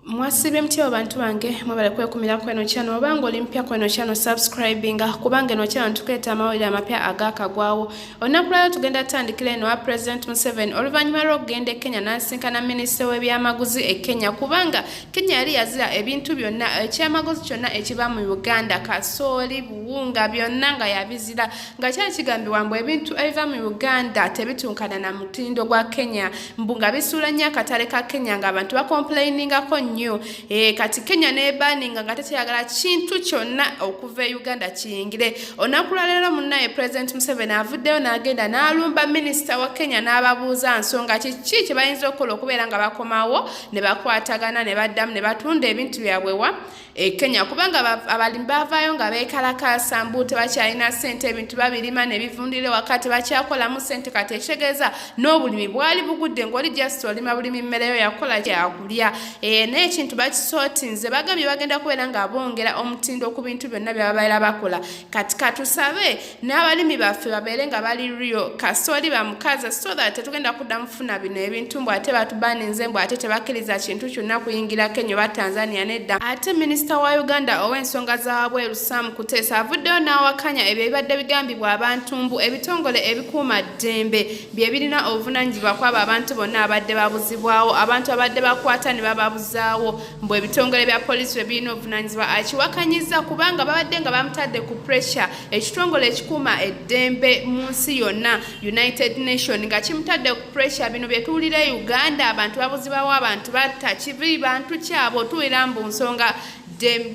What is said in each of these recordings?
mwasiba emutya abantu bange mwebale kwekumira kweno kyano obanga oli mpya kweno kyano subscribinga kubanga eno kyano tukuleeta amawulire amapya agakagwawo olunaku lwalyo tugenda tutandikira eno wa president museven oluvannyuma lw'okugenda e kenya n'asinkana minisita w'ebyamaguzi e kenya kubanga kenya yali yazira ebintu byonna ekyamaguzi kyonna ekiva mu uganda kasooli buwunga byonna nga yabizira nga kyali kigambibwa mbu ebintu ebiva mu uganda tebitunkana na mutindo gwa kenya mbu nga bisuula nnyo akatale ka kenya nga abantu bakomplainingako nnyo e, kati kenya nebaninga nga tekyeyagala kintu kyonna okuva e uganda kiyingire olunaku lwaleero munaye president museveni avuddeyo n'agenda n'alumba minisita wa kenya n'ababuuza nsonga kiki kye bayinza okukola okubeera nga bakomawo ne bakwatagana ne baddamu ne batunda ebintu byabwewa e Kenya kubanga abalimi bavaayo nga beekalakaasa mbu tebakyalina ssente ebintu babirima ne bivundira ewaka tebakyakolamu ssente kati ekitegeeza n'obulimi bwali bugudde ng'oli just olima bulimi mmereyo yakola kyakulya eh, naye ekintu bakisootinze bagambye bagenda kubeera nga bongera omutindo ku bintu byonna bye babeera bakola kati katusabe n'abalimi baffe babeere nga bali rio kasooli bamukaza so that tetugenda kudda mufuna bino ebintu mbu ate batubaninze mbu ate tebakkiriza kintu kyonna kuyingira kenya oba tanzania nedda ate minisita wa uganda ow'ensonga zawabweru sam kuteesa avuddeyo n'awakanya ebyo ebibadde bigambibwa abantu mbu ebitongole ebikuuma ddembe bye birina obuvunanyizibwa kwabo abantu bonna abadde babuzibwawo abantu abadde bakwata ne bababuzaawo mbu ebitongole bya poliisi bye birina obuvunanyizibwa akiwakanyizza kubanga babadde nga bamutadde ku pressure ekitongole ekikuuma eddembe mu nsi yonna united nation nga kimutadde ku pressure bino byetuwulira e uganda abantu babuzibawo abantu batta kibi bantu kyabo tuwulira mbu nsonga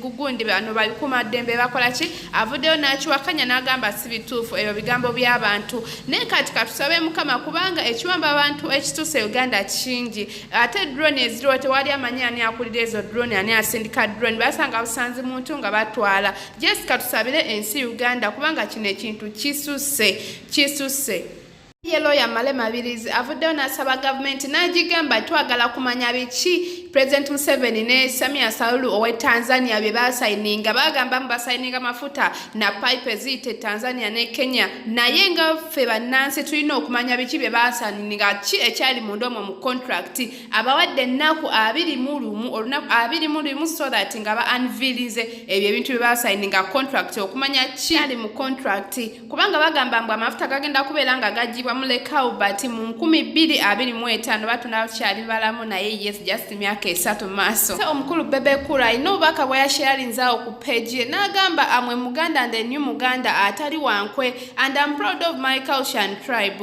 gugundi bano babikuuma ddembe bakola ki avuddeyo n'akiwakanya n'agamba si bituufu ebyo bigambo by'abantu naye kati katusabe mukama kubanga ekiwamba abantu ekituuse uganda kingi ate drone eziriwo tewali amanyi ani akulira ezo drone ani asindika drone basanga busanzi muntu nga batwala Jesi katusabire ensi Uganda kubanga kino ekintu kisuse kisuse ye looya male mabirizi avuddeyo n'asaba gavumenti n'agigamba twagala kumanya biki president museveni ne samia salulu owe tanzania bye basayininga bagamba mu basayininga mafuta na pipe eziyita e tanzania ne kenya naye nga ffe bannansi tulina okumanya biki bye basayininga ki ekyali munda omwo mu contract abawadde ennaku abiri mu lumu olunaku abiri mu lumu so that nga ba anvilinze ebyo ebintu bye basaini nga contract okumanya ki ali mu contract kubanga bagamba mbu amafuta gagenda kubeera nga gajjibwa mu lekaubert mu nkumi bbiri abiri mu etaano batunda kyali balamu naye yes just myaka esatu maaso se omukulu bebekura alina obubaka bwe yasheyalinzaawo ku pegi ye n'agamba amwe muganda nde new muganda atali wankwe and am proud of my culture and tribe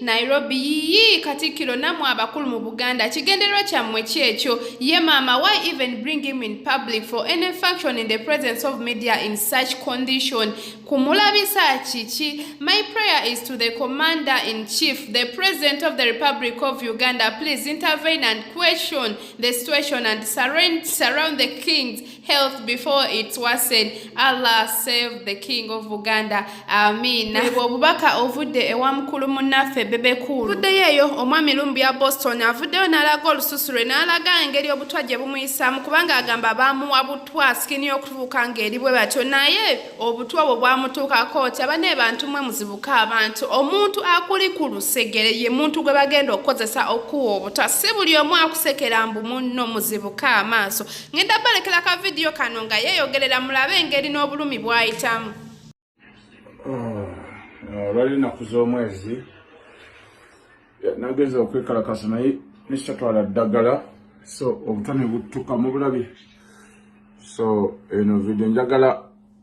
nairobi yiyi katikkiro namwe abakulu mu buganda kigenderwa kyammwe kyekyo ye maama why even bring him in public for any function in the presence of media in such condition kumulabisa kiki my prayer is to the commander in chief the president of the republic of uganda please intervene and question the situation and surround the kings health before it's worsened allah save the king of uganda amiina ebwo obubaka ovudde ewa mukulu munnaffe bebekulu vuddeyo eyo omwami lumbu ya boston avuddeyo n'alaga olususu lwe n'alaga engeri obutwa gye bumuyisaamu kubanga agamba baamuwa butwa sikini y'okutubuuka ng'eri bwe batyo naye obutwa obwo bwamutuukako nti aba ne bantu mwe muzibuka abantu omuntu akuli ku lusegere ye muntu gwe bagenda okukozesa okukuwa obutwa si buli omu akusekera mbu munno muzibuka amaaso ngenda balekera ka vidiyo kano nga yeeyogerera mulabe engeri n'obulumi bwayitamu oh, olwali ennaku z'omwezi nagenza okwekalakasa naye nesitatwala ddagala so obutane buttuka mu bulabi so eno vidiyo njagala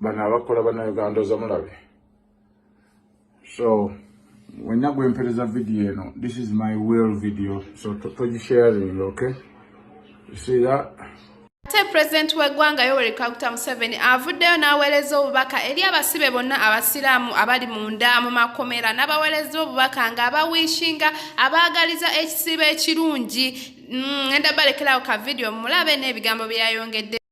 bano abakola banauganda ozamulabe so wenna gwempereza video eno this is my will video so togisharing okay you see that ate pulezidenti w'eggwanga yoweri kaguta museveni avuddeyo n'aweereza obubaka eri abasibe bonna abasiraamu abali munda mu makomera n'abaweereza obubaka ng'abawishinga abaagaliza ekisiibo ekirungi mm, ngenda balekerawo ka vidiyo mulabe n'ebigambo byeyayongedde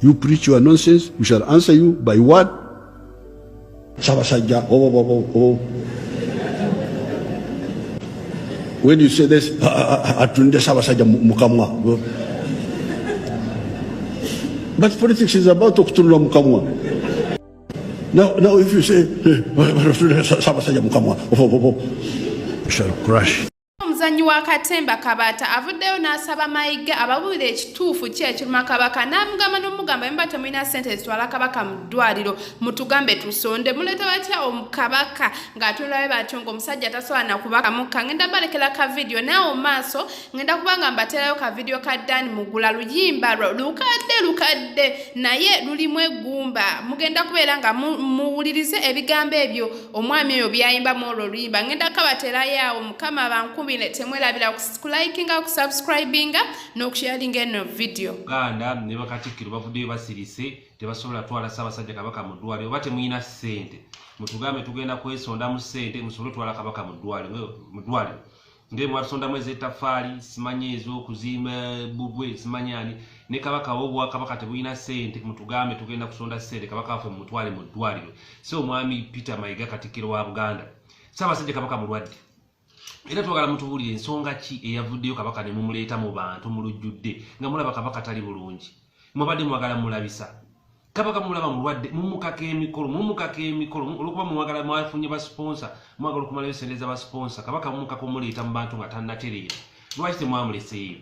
You preach your nonsense, we shall answer you by what? Sabasajja, oh, oh, oh, oh. oh. When you say this, ah, ah, ah, atunde Sabasajja mukamwa. But politics is about to okutunula mukamwa. Now, now if you say, eh, Sabasajja mukamwa, oh, oh, oh, oh. we shall crush. Omuzannyi wa katemba Kabaata avuddeyo n'asaba Mayiga ababuulire ekituufu ki ekiruma Kabaka n'amugamba n'omugamba yemba temulina ssente zitwala Kabaka mu ddwaliro mutugambe tusonde muleeta batya Kabaka ng'atunulabe batyo ng'omusajja tasobola na kubaka mukka ngenda balekera ka vidiyo naawo maaso ngenda kubanga mbateerayo ka vidiyo ka Dan Mugula luyimba lwo lukadde lukadde naye lulimu eggumba mugenda kubeera nga muwulirize ebigambo ebyo omwami oyo byayimbamu olwo oluyimba ngenda kabaterayo awo mukama bankubire temwerabira kulikinga kusubscribinga nokusharinga eno vidiyo uganda ne bakatikkiro bavuddeyo basirise tebasobola twala ssaabasajja kabaka mu ddwale oba temulina ssente mutugambe tugenda kwesondamu ssente musobole otwala kabaka mu ddwale nge mwatusondamu ezetafaali simanyi ezokuzimba bugwe simanyi ani ne kabaka wobwakabaka tebulina sente mutugambe tugenda kusonda sente kabaka wafe mumutwale mu ddwaliro si omwami peter mayiga katikkiro wa buganda saabasajja kabaka mulwadde era twagala mutubulire ensonga ki eyavuddeyo kabaka ne mumuleeta mu bantu mu lujjudde nga mulaba kabaka tali bulungi mubadde mwagala mulabisa kabaka mulaba mulwadde mumukaka emikolo mumukaka emikolo olwokuba mwagala mwafunye basponsa mwagala okumalayo sente za basponsa kabaka mumukaka omuleeta mu bantu nga tanatereera lwaki temwamuleseeyo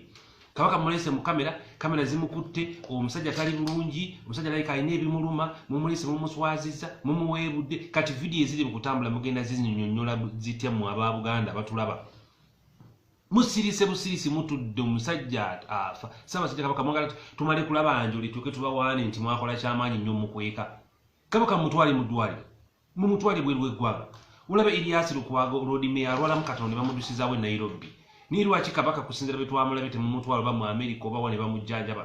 kabaka mumulese mu kamera kamera zimukutte omusajja tali bulungi omusajja layika alina ebimuluma mumulese mumuswaziza mumuweebudde kati vidiyo eziri mu kutambula mugenda zinyonyola zitya mu aba buganda batulaba musirise busirisi mutudde omusajja afa sabasajja kabaka mwagala tumale kulaba njoli tuke tubawaane nti mwakola kyamaanyi nnyo mukweka kabaka mutwale mudwaliro mumutwale bweru eggwanga olaba elias lukwago lord mayor alwalamu katono ne bamudusizawo e nairobi naye lwaki kabaka kusinzira betwamulabe temumutwala oba mu amerika oba wane bamujjanjaba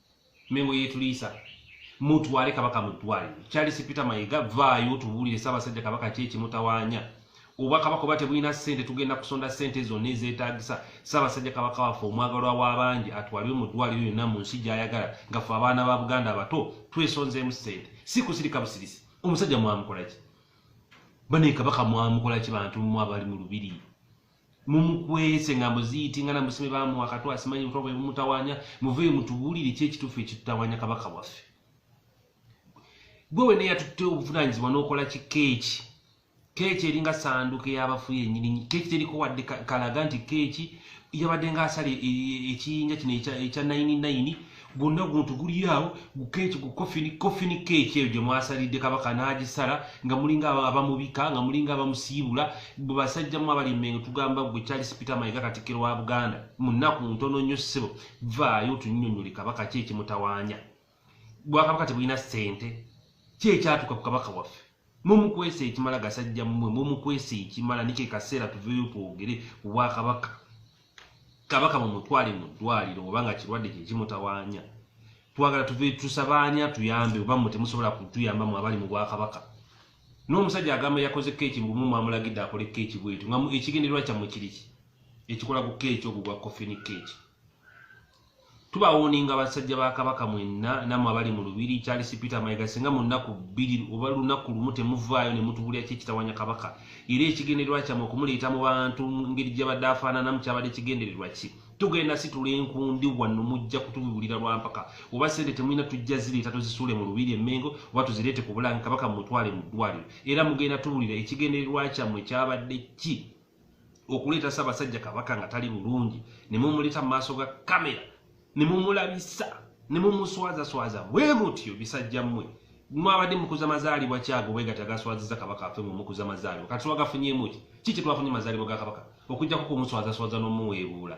mengo yetuliisa mutwale kabaka mu ddwaliro charles peter mayiga vaayo tubuulire ssaabasajja kabaka ki ekimutawaanya oba kabaka oba tebulina ssente tugenda kusonda ssente zonna ezeetaagisa ssaabasajja kabaka waffe omwagalwa w'abangi atwalibwe mu ddwaliro yonna mu nsi gy'ayagala nga ffe abaana ba buganda abato twesonzeemu ssente si kusirika busirisi omusajja mwamukola ki bane kabaka mwamukola ki bantu mu abali mu lubiri mumukwese nga muziiti nga namusime bamuwa katu asimanyi butwa bwe bumutawanya muveyo mutubulire ki ekitufu ekitutawanya kabaka waffe gwe wena eyatutte obuvunanyizibwa nokola ki keeki keeki eringa sanduka eyabafu yenyini keeki teriko wadde kalaga nti keeki yabadde nga asala e, e, e, ekiyinja kino ekya 99 gwonna guntu guliyaawo gukeeki ku kofini kofini keeki eyo gye mwasalidde kabaka n'agisala nga mulinga abamubika nga mulinga abamusiibula bwe basajja mu abali mmengo tugamba gwe charles peter mayiga katikkiro wa buganda mu nnaku ntono nnyo ssebo vaayo tunyonyole kabaka ki ekimutawaanya bwakabaka tebulina ssente ki ekyatuuka ku kabaka waffe mumukwesa ekimala gasajja mmwe mumukwesa ekimala nike kaseera tuveyo twogere ku bwakabaka kabaka mumutwale mu ddwaliro oba nga kirwadde kyekimutawaanya twagala tuve tusabaanya tuyambe oba mmwe temusobola kutuyamba mu abali mu bwakabaka n'omusajja agamba yakoze keeki mbumu mwamulagidde akole keeki bwetu nga ekigendererwa kyammwe kiriki ekikola ku keeki ogwo gwa kofini keeki tubawooninga basajja ba kabaka mwenna namwe abali mu lubiri charles peter mayiga singa mu nnaku bbiri oba lunaku lumu temuvaayo ne mutubulira ki ekitawanya kabaka era ekigendererwa kyammwe okumuleeta mu bantu ngeri gyabadde afaananamu kyabadde kigendererwa ki tugenda situla enkundi wano mujja kutubibulira lwampaka oba sente temulina tujja zireeta tuzisuule mu lubiri emmengo oba tuzireete ku bulange kabaka mumutwale mu ddwaliro era mugenda tubulira ekigendererwa kyammwe kyabadde ki okuleeta sabasajja kabaka nga tali bulungi nemumuleta mumaaso ga kamera nemumulabisa nemumuswazaswaza bwe mutyo bisajja mmwe mwabadde mukuza mazaalibwa kyago bwegati agaswaziza kabaka afe mwe mukuza mazaalibwa kati twagafunyemuki ki kyetwafunye mazaalibwa ga kabaka okujjako kumuswazaswaza nomuweebuula